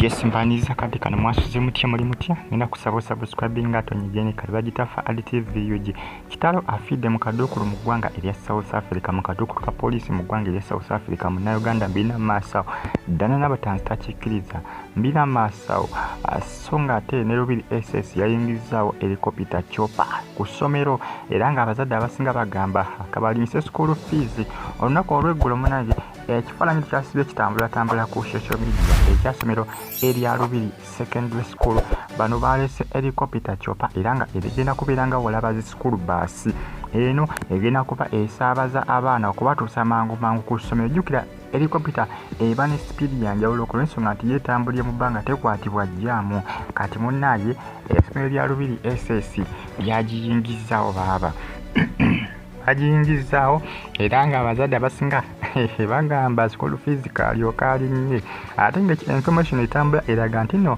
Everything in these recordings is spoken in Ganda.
yes mbaniriza kade kano mwasuze mutya muli mutya nina kusaba osubscribing nga tonyigene kale bagitafa ad tv ug kitalo afidde mu kaduukulu mu ggwanga erya south africa mu kaduukulu ka poliisi mu ggwanga erya south africa munauganda mbirina maasawo ddana n'abatanzi takikkiriza mbirina maasawo so ng'ate ne lubiri ss yayingizzaawo erikopita copa ku ssomero era ng'abazadde abasinga bagamba akabalimisa esukuulu fiizi olunaku olweggulo munange ekifaananyi kyasibye kitambulatambula ku social media ekyasomero erya lubiri secondary school bano baalese erikopita copa era nga ebigenda kubeera nga walaba zi sukuulu baasi eno egenda kuba esaabaza abaana okubatuusa mangu mangu ku ssomero jjukira Helicopter eba ne sipiidi ya njawulo ku lw'ensonga nti yeetambulira mu bbanga tekwatibwa jjaamu. Kati munnaaye essomero lya Lubiri SS lyagiyingizzaawo baaba. bagiyingizzaawo era ng'abazadde abasinga bagamba school fees kaalyoka alinnye ate nga information etambula eraga nti no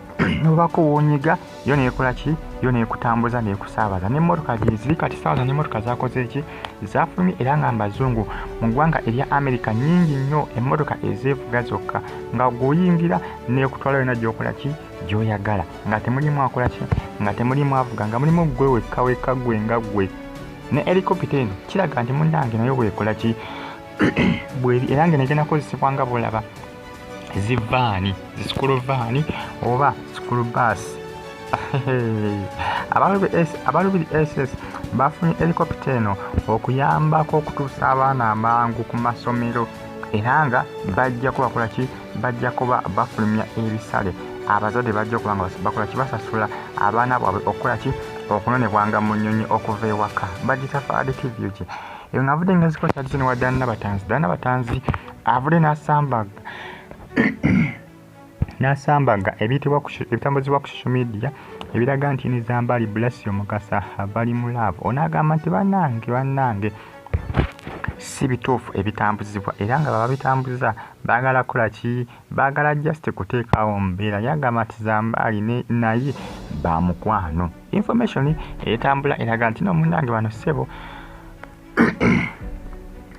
nobako wonyiga yo nekola ki yo nekutambuza nekusaabaza nemotoka gyeziri kati saawa zona emotoka zakoze ki zafulumye era nga mbazungu mu ggwanga erya america nyingi nnyo emotoka ezeevuga zokka nga guyingira nekutwala yona gyokola ki gyoyagala nga temulimu akola ki nga temulimu avuga nga mulimu gwe wekka wekka gwe nga gwe ne helikopita eno kiraga nti munange nayo bwekola ki bweri era nga negenda kozesebwa nga bulaba zivaani zisukulu vaani oba sukulu baasi abalubiri ss bafunye helikopita eno okuyambako okutuusa abaana amangu ku masomero era nga bajja kubakola ki bajja kuba bafulumya ebisale abazadde bajja okuba nga bakola ki basasula abaana bwabwe okukola ki okunonebwanga mu nnyonyi okuva ewaka bagitafaadikivyo ki eyo ngavudde nga zikola kyadizeni wa dana batanzi dana batanzi avule n'asambaga n'asambaga ebitambuzibwa ku social media ebiraga nti nizambali blasio mukasa bali mu laavu onaagamba nti bannange bannange si bituufu ebitambuzibwa era nga bababitambuza baagala kola ki baagala just kuteekawo mbeera yagamba nti zambaali naye bamukwano information etambula eraga nti nomunange bano ssebo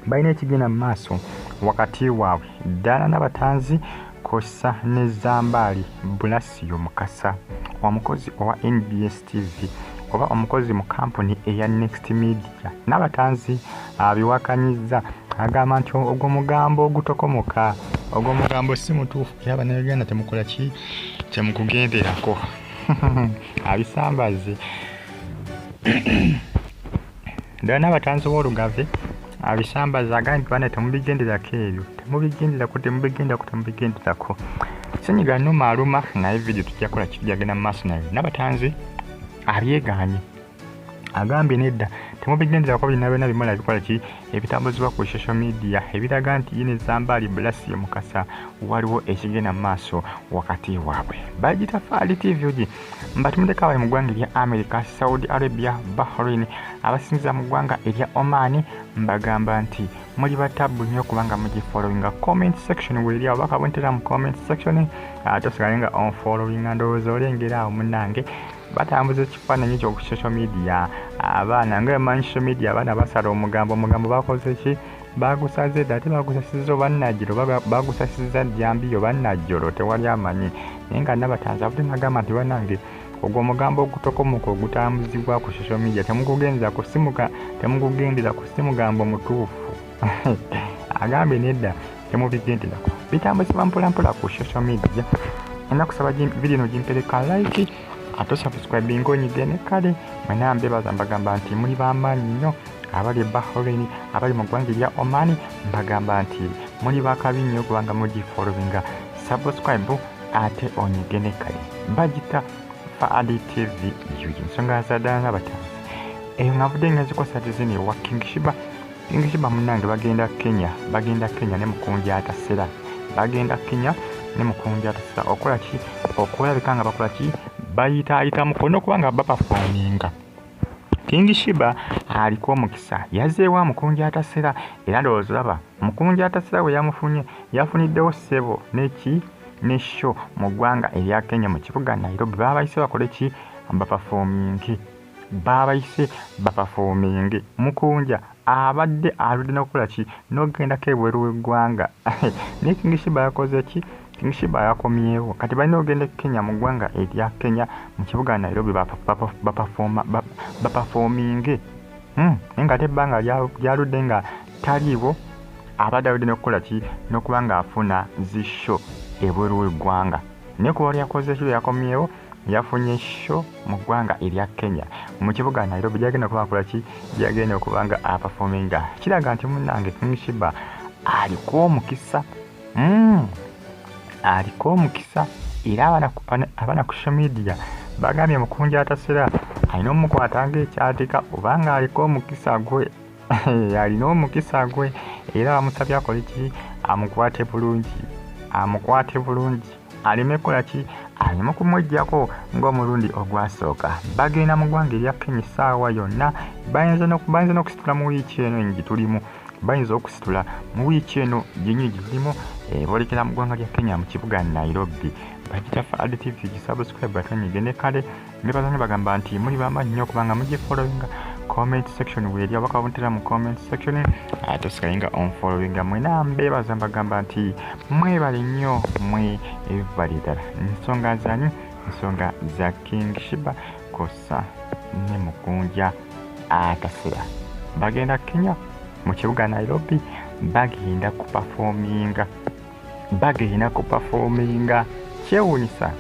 balina ekigenda mu maaso wakati waabwe ddaala nabatanzi kosa ne zambaali bulasiyo mukasa omukozi owa nbs tv oba omukozi mu kampuni eya next media nabatanzi abiwakanyizza agamba nti ogwo mugambo ogutokomoka ogwo mugambo si mutuufu era banauganda temukola ki temukugenderako abisambaze Dana abatanzi b'olugave abisambaza agambye nti bana temubigenderako ebyo temubigenderako temubigenderako temubigenderako senyiga numa aluma naye vidiyo tujja kola kiki gyagenda mu maaso naye nabatanzi abyeganye agambye nedda temubigenderako birina byona bimala bikola ki ebitambuzibwa ku social media ebiraga nti yini zambaali bulasi mukasa waliwo ekigenda mu maaso wakati waabwe bagitafaali tv ogi Batumidde kawale mu ggwanga erya Amerika, Saudi Arabia, Bahrain abasinza mu ggwanga erya Oman mbagamba nti muli batabbu nnyo kubanga mugifollowinga comment section weeri awo bakabonetera mu comment section ah, tosigale nga onfollowinga ndowooza olengera awo munange batambuza ekifaananyi ekyo ku social media abaana nga emanyi social media abaana basala omugambo omugambo bakoze ki bagusaze dda ate bagusasiza oba najjiro oba bagusasiza jambiya oba najjolo tewali amanyi naye nga nabatanzi avudde nagamba nti banange ogwo omugambo ogutokomoka ogutambuzibwa ku social media temugugendera ku simuka temugugendera ku simugambo mutuufu agambye nedda temubigenderako bitambuzibwa mpolampola ku social media ena kusaba vidiyo no gimpereka like ate osubscribinga onyige ne kale mwenambebaza mbagamba nti muli bamaanyi nnyo abali e bahrain abali mu ggwanga erya omani mbagamba nti muli bakabi nnyo kubanga mugifolowinga subscribe ate onyige ne kale bagita faadi tv yugi ensonga zadala nabatanzi eyo nga nvudde nga nzikosa dizini ewa kingishiba kingishiba munange bagenda kenya bagenda kenya ne mukunja atasera bagenda kenya ne mukunja atasera okola ki okulabika nga bakola ki bayitaayita mukono kubanga bapafominga King Shiba aliko omukisa yazeewo amukunja atasera era ndowooza olaba mukunja atasera bwe yamufunye yafuniddewo ssebo neki ne sho mu ggwanga erya Kenya mu kibuga Nairobi baabayise bakole ki bapafominge baabayise bapafominge mukunja abadde aludde nokukola ki nogendako ebweru weggwanga naye king shiba yakoze ki king shiba yakomyewo kati balina ogenda e kenya mu ggwanga erya kenya mu kibuga nairobi bapafominge hmm, naye nga ate ebbanga lyaludde nga taliiwo abadde aludde nokukola ki nokuba nga afuna zisho ebweru weggwanga naye kuba lyakoze ki lweyakomyewo yafunye sho mu ggwanga erya kenya mu kibuga nairobi gyagenda okuba akola ki gyagenda okuba nga apafominga kiraga nti munange kingshiba aliko omukisa mm. aliko omukisa era abana ku shomedia bagambye mukunja atasera alina omukwata ngaekyatika obanga aliko omukisa gwe alina omukisa gwe era bamusabye akole ki amukwate bulungi amukwate bulungi aleme kukola ki aleme kumwejjako ng'omulundi ogwasooka bagenda mu ggwanga erya kenya essaawa yonna bayinza n'okusitula mu wiiki eno enyi gye tulimu bayinza okusitula mu wiiki eno gyenyini gye tulimu eh, boolekera mu ggwanga lya kenya mu kibuga nairobi bagita fadtv gisubscribe atwenyige ne kale ne baza ne bagamba nti muli bamaanyi nnyo kubanga mujje followinga comment section weeri abaka babuntera mu comment section ate osigale nga onfollowinga mwena mbeebaza mbagamba nti mwebale nnyo mwe ebibali ddala ensonga zanyu ensonga za king shiba kosa ne mukunja atasira bagenda kenya mu kibuga nairobi bagenda kupafominga bagenda kupafominga kyewunyisa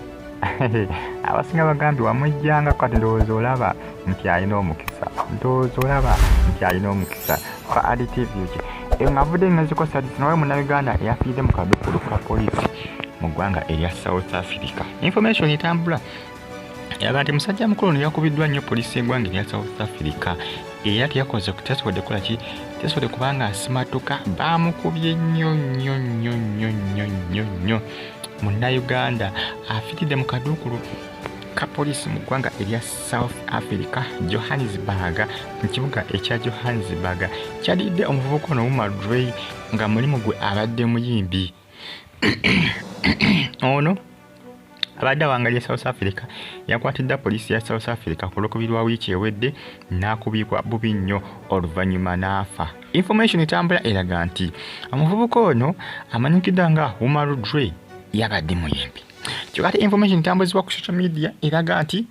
abasinga bagambi wamujjanga kati ndowooza olaba nti alina omukisa ndowooza olaba nti alina omukisa fa adtv ki eyo ngavudde ngezikosadisi nawe munauganda eyafiidde mu kadukulu ka poliisi mu ggwanga erya south africa information etambula yaga nti musajja mukulu ono yakubiddwa nnyo poliisi y'eggwanga erya south africa era teyakoze teyasobodde kukola ki teyasobodde kubanga asimatuka baamukubye nnyo nnyo nnyo nnyo nnyo nnyo nnyo munnayuganda afiridde mu kaduukulu ka poliisi mu ggwanga erya south africa johannesburg mu kibuga ekya johannesburg kyadidde omuvubuka ono wumadrey nga mulimu gwe abadde muyimbi ono abadde awangalya south africa yakwatiddwa poliisi ya south africa ku lwokubiri lwa wiiki ewedde n'akubibwa bubi nnyo oluvannyuma n'afa information etambula eraga nti omuvubuka ono amanyikiddwa nga umar dre yabadde muyimbi kyokate information etambuzibwa ku social media eraga nti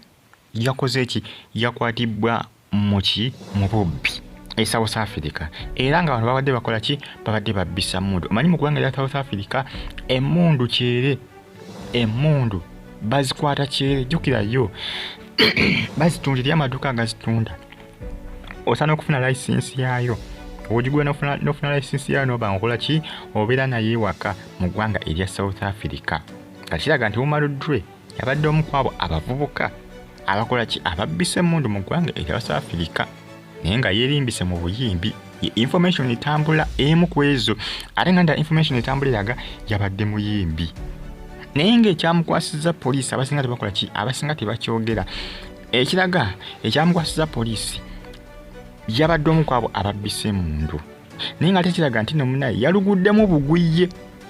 yakoze ki yakwatibbwa muki mu bubbi e south africa era nga abantu babadde bakola ki babadde babbisa mundu omanyi mu ggwanga lya south africa emundu kyere emundu bazikwata kyere jukirayo bazitunda eri amaduuka agazitunda osana okufuna licensi yaayo ogigula nofuna licensi yaayo noba nkola ki obeera naye ewaka mu ggwanga erya south africa kakiraga nti wumaluddwe yabadde omu ku abo abavubuka abakola ki ababbisa emmundu mu ggwanga erya wasa afirika naye nga yeerimbise mu buyimbi information etambula emu ku ezo ate nga nda information etambula eraga yabadde muyimbi naye ngaekyamukwasiza poliisi abasinga tebakola ki abasinga tebakyogera ekiraga ekyamukwasiza poliisi yabadde omu kwabo ababbisa emundu naye nga ate kiraga nti no munaye yaluguddemu bugwiye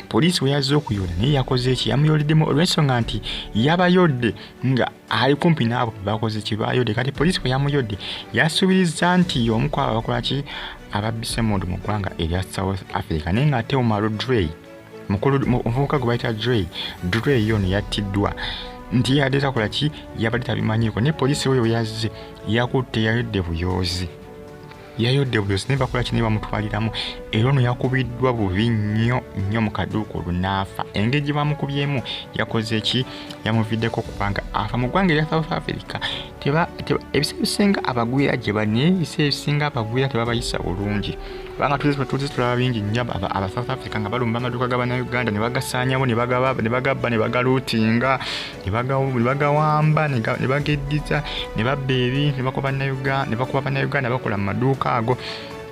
poliisi bwe yazze okuyoola naye yakoze eki yamuyooleddemu olw'ensonga nti yabayodde nga ali kumpi n'abo bebakoze kye bayodde kati poliisi bwe yamuyodde yasuubiriza nti omu ku abo abakola ki ababbisa emundu mu ggwanga erya south africa naye ng'ate omaro drey mukulu omuvubuka gwe bayita drey drey yono yattiddwa nti yadde takola ki yabadde tabimanyiiko naye poliisi oyo yazze yakutte yayodde buyoozi yayodde buyo sinaye bakola kinaye bamutwaliramu era ono yakubiddwa bubi nnyo nnyo mu kaduuka olwo naafa engeri gye bamukubyemu yakoze ki yamuviddeko kubanga afa mu ggwanga erya south africa ebiseera ebisinga abagwira gye bali naye ebiseera ebisinga abagwira tebabayisa bulungi kubanga tuzi tulaba bingi nnyo aba south africa nga balumba amaduuka ga banauganda ne bagasaanyawo ne bagabba ne bagaluutinga nebagawamba nebageddiza nebabba ebi nebakuba bannayuganda bakola mu maduuka ago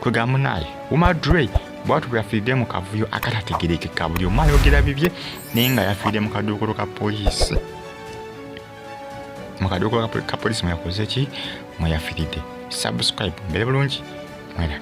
kwega munaye umadre bwatu bweyafiiridde mu kavuyo akatategerekeka buli omu ayogera bibye naye nga yafiiridde mu kaduukulu ka poliisi mu kaduukulu ka poliisi mweyakoze ki mweyafiiridde subscribe mbere bulungi mweraga